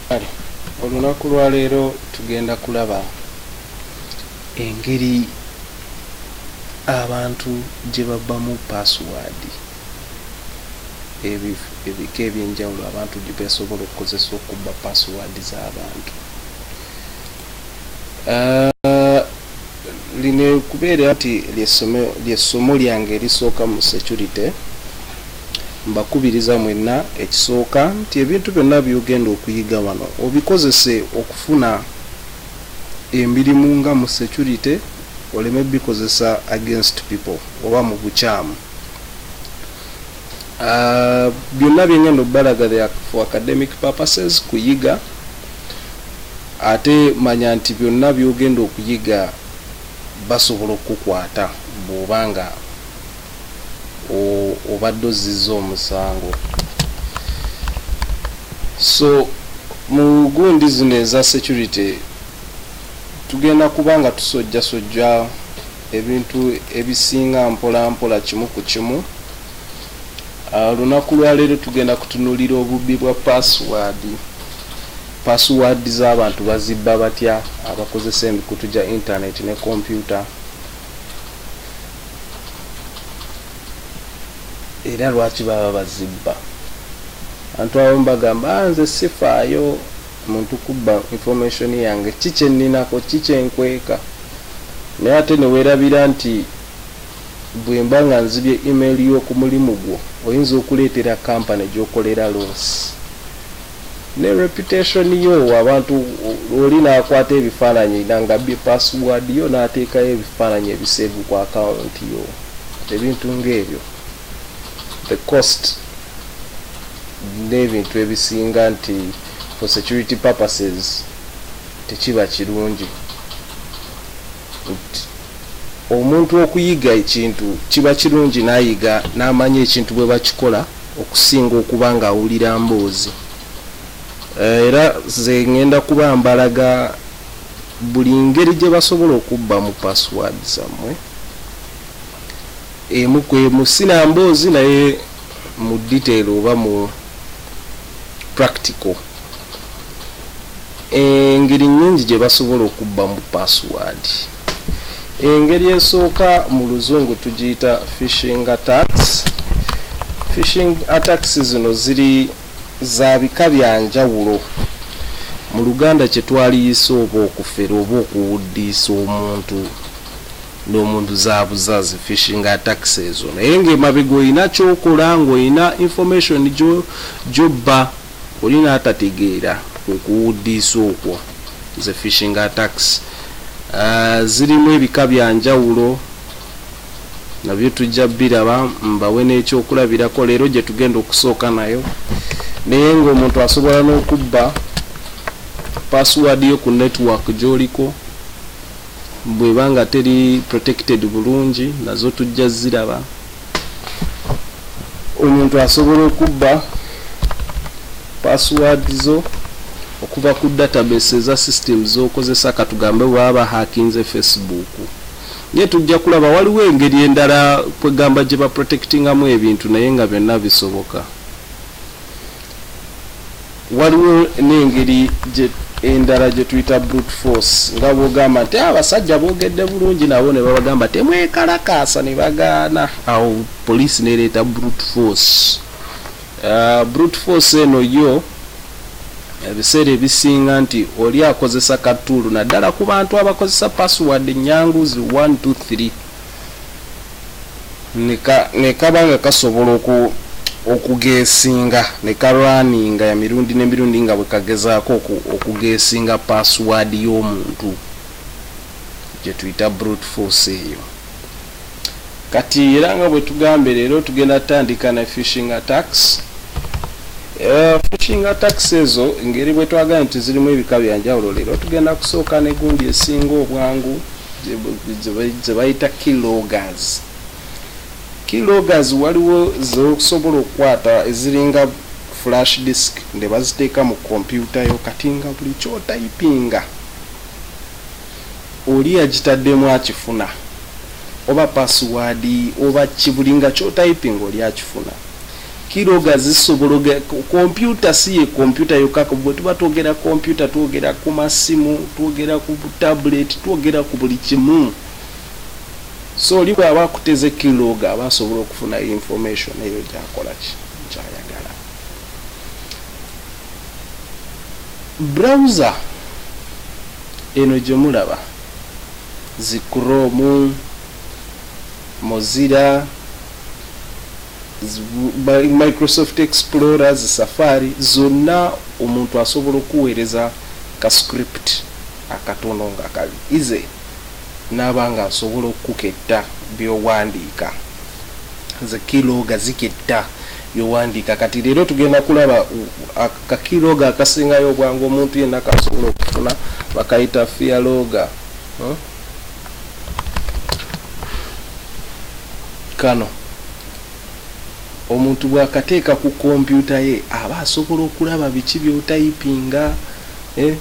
Kale olunaku lwa leero tugenda kulaba engeri abantu gye babbamu password ebi ebika ebyenjawulo abantu gye basobola okukozesa okubba password z'abantu. Uh, lino kubeera nti lyessomo lyange erisooka mu security mbakubiriza mwenna ekisooka nti ebintu byonna byogenda okuyiga wano obikozese okufuna emirimu nga mu security oleme bikozesa against people oba mu bukyamu Ah, byonna byengenda okubalaga for academic purposes kuyiga ate manya nti byonna byogenda okuyiga basobola okukukwata bwoba nga obadde ozizza omusango so mu gundi zino eza security tugenda kuba nga tusojjasojja ebintu ebisinga mpola mpola kimu ku kimu olunaku lwaleero tugenda kutunulira obubbi bwa password password z'abantu bazibba batya abakozesa emikutu gya internet ne kompyuta era lwaki baba bazibba abantu abamu bagamba ah, nze sifaayo muntu kubba information yange ki kyenninako ki kyenkweeka naye ate newerabira nti bwemba nga nzibye email y'okumulimu gwo oyinza okuleetera company gyokolera loss ne reputation yo abantu oli nakwata ebifaananyi nanga bye password yo nateekayo ebifaananyi ebiseevu ku account yo ebintu ngaebyo the cost n'ebintu ebisinga nti for security purposes tekiba kirungi omuntu okuyiga ekintu kiba kirungi nayiga n'amanya ekintu bwe bakikola okusinga okuba nga awulira mboozi eh, era ze ŋŋenda kuba mbalaga buli ngeri gye basobola okubba mu password zammwe emu kwemu sinamboozi naye mu detail oba mu practical engeri nyingi gye basobola okubba mu password engeri esooka mu luzungu tugiyita fishing attacks fishing attacks zino ziri za bika bya njawulo mu luganda kye twaliyisa oba okufera oba okuwuddiisa omuntu nomuntu zabuzazi fishinga tax ezo naye nga emabega olina kyokola nga olina information gyobba oli natategeera kwekuwuddiisa okwo ze fishinga tax uh, zirimu ebika byanjawulo nabyo tujja biraba mbawe nekyokulabirako leero gyetugenda okusooka nayo naye nga omuntu asobola n'okubba password yo ku network gyoliko bweba nga teri protected bulungi nazo tujja ziraba omuntu asobola okubba password zo okuva ku database eza system zokozesa katugambe bwaba hakinze facebook naye tujja kulaba waliwo engeri endala kwegamba gye baprotectingamu ebintu naye nga byonna bisoboka Waliwo n'engeri endala gye tuyita brute force nga bw'ogamba nti ah, abasajja boogedde bulungi nabo ne babagamba temwekalakaasa ne bagaana awo poliisi nereeta brute force ah, brute force eno yo ebiseera ebisinga nti oli akozesa katuulu naddala ku bantu abakozesa password nyangu zi 123 nekaba nga kasobola oku okugesinga ne ka runninga ya mirundi ne mirundi nga bwe kagezaako okugesinga password y'omuntu gye tuyita brute force eyo kati era nga bwe tugambe leero tugenda tutandika ne fishing attacks eh, fishing attacks ezo ngeri bwe twagala nti zirimu ebika byanjawulo leero tugenda kusooka ne gundi esinga obwangu zebayita kilogas kilogas waliwo zokusobola okukwata eziringa flash disk ne baziteeka mu kompyuta yo kati nga buli kyotayipinga oli yagitaddemu akifuna oba pasiwaadi oba kibulinga kyotayipinga oli akifuna Kiroga zisobologa kompyuta si ye kompyuta yokka bwe tuba twogera kompyuta twogera ku masimu twogera ku tabuleti twogera ku buli kimu so oli bw'aba akuteze kiroga aba asobola okufuna information eyo gyakola ki kyayagala browser eno gye mulaba zikromu mozira microsoft explorer zi safari zonna omuntu asobola okuweereza ka script akatono nga kali ize naaba nga nsobola okuketta byowandiika nze kiloga ziketta byowandiika kati leero tugenda kulaba kakiloga akasingayo obwangu omuntu yenna kasobola okufuna bakayita fialoga hmm? kano omuntu bwakateeka ku kompyuta ye aba asobola okulaba biki byotayipinga eh,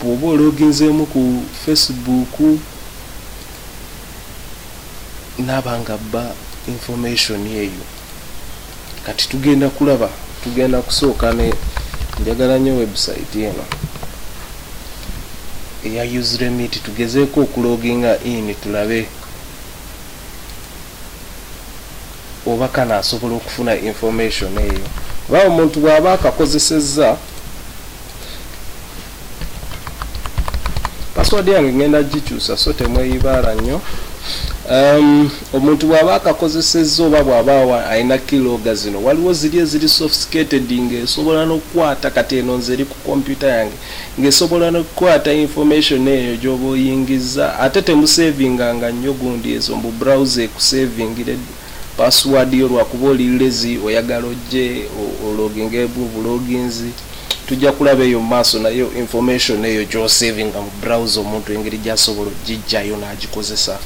bwoba ologinzeemu ku facebook naaba nga bba information eyo kati tugenda kulaba tugenda kusooka ne njagala nyo website eno eya useremit tugezeeko okuloginga in tulabe oba kana asobola okufuna information eyo oba omuntu bw'aba akakozesezza password yange ngenda gikyusa so temweyibaala nnyo um, omuntu bw'aba akakozesezza oba bw'aba alina kiloga zino waliwo ziri eziri sophisticated ng'esobola n'okukwata kati eno nze eri ku kompyuta yange ng'esobola n'okukwata information eyo gy'oba oyingizza ate temusevinganga nnyo gundi ezo mbu browse ekusevingired Password yo lwakuba oli lazy oyagala ojje ologinge mu buloginzi tujja kulaba eyo maaso naye information eyo gyosavinga mu browse omuntu engeri gyasobola ogijjayo nagikozesa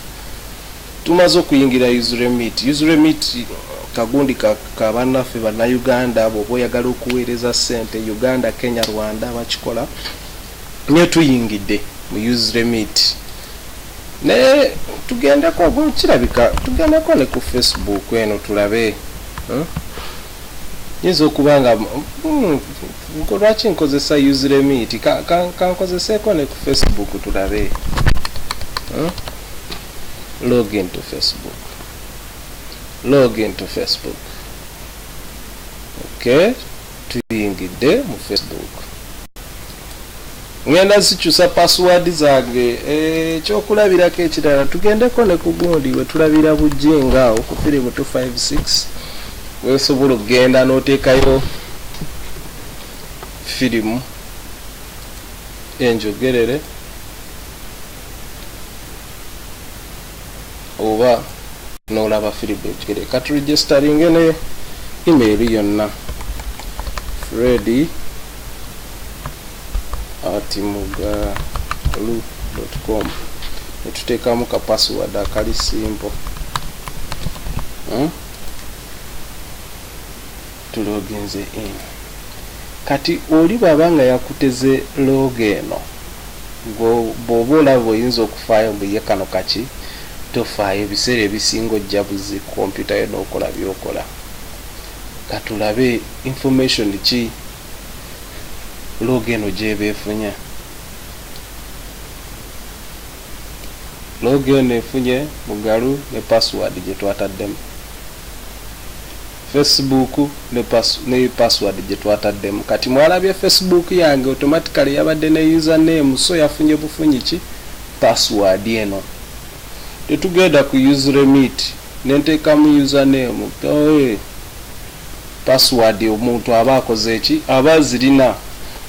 tumaze okuyingira usremit usremit kagundi kabannaffe bannayuganda bwoba oyagala okuweereza sente uganda kenya rwanda bakikola nyo tuyingide mu use remit naye tugendeko ogo kirabika tugendeko ne ku facebook eno tulabe hmm? yinza okuba nga hmm, lwaki nkozesa use remit kankozeseeko ka, ka ne ku facebook tulabe hmm? log into facebook log into facebook okay tuyingidde mu facebook ngenda zikyusa password zange ekyokulabirako eh, ekirala tugendeko ne ku gundi wetulabira bujinga awo ku firimu 256 wesobola okugenda notekayo firimu enjogerere oba nolaba firibu ekigere kati registeringe ne email yonna fredi ati mugalu com netuteekamu ka password akali simple hmm? Tulo ogenze in. Kati oli bwaba nga yakuteze log eno gwe bwoba olaba oyinza okufaayo mbu ye kano kaki tofaayo ebiseera ebisinga ojja buzi ku computer yo nokola byokola katulabe information ki log eno gyeba efunya. Log eno efunye Mugalu ne password gyetwataddemu. Facebook ne pass ne password gyetwataddemu. Kati mwalabye Facebook yange automatically yabadde ne user name so yafunye bufunyi ki password eno. Tetugenda ku use remit ne nteekamu user name. Ooh. Password omuntu aba akoze ki? Aba azirina,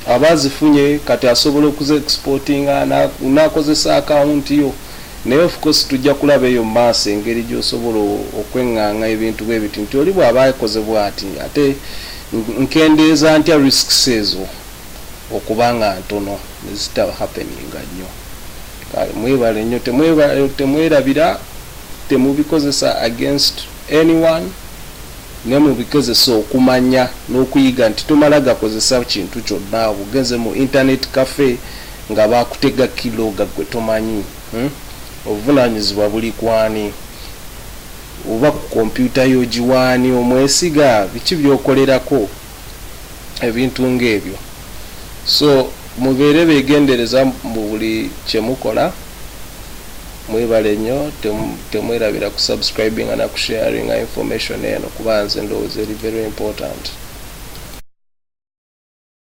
aba azifunye kati asobola okuzi exportinga nakozesa account yo. Naye of course tujja kulaba eyo mu maaso engeri gyosobola okwenganga ebintu bwebiti nti oli bwaba akoze bwati ate nkendeeza ntya risks ezo okuba nga ntono nezita happeninga nnyo. Kale mwebale nnyo temwerabira temubikozesa against anyone. Ne mu bigezesa okumanya n'okuyiga nti tomala gakozesa kintu kyonna awo ogenze mu internet cafe nga baakutega keylogger gwe tomanyi. Hum. Obuvunaanyizibwa buli ku ani? Oba ku kompyuta yo ogiwa ani? Omwesiga? Biki by'okolerako? ebintu ng'ebyo so mubeere begendereza mu buli kyemukola mwebale nnyo temwerabira ku subscribinga na kusharinga information eno kuba nze ndowooza eri very important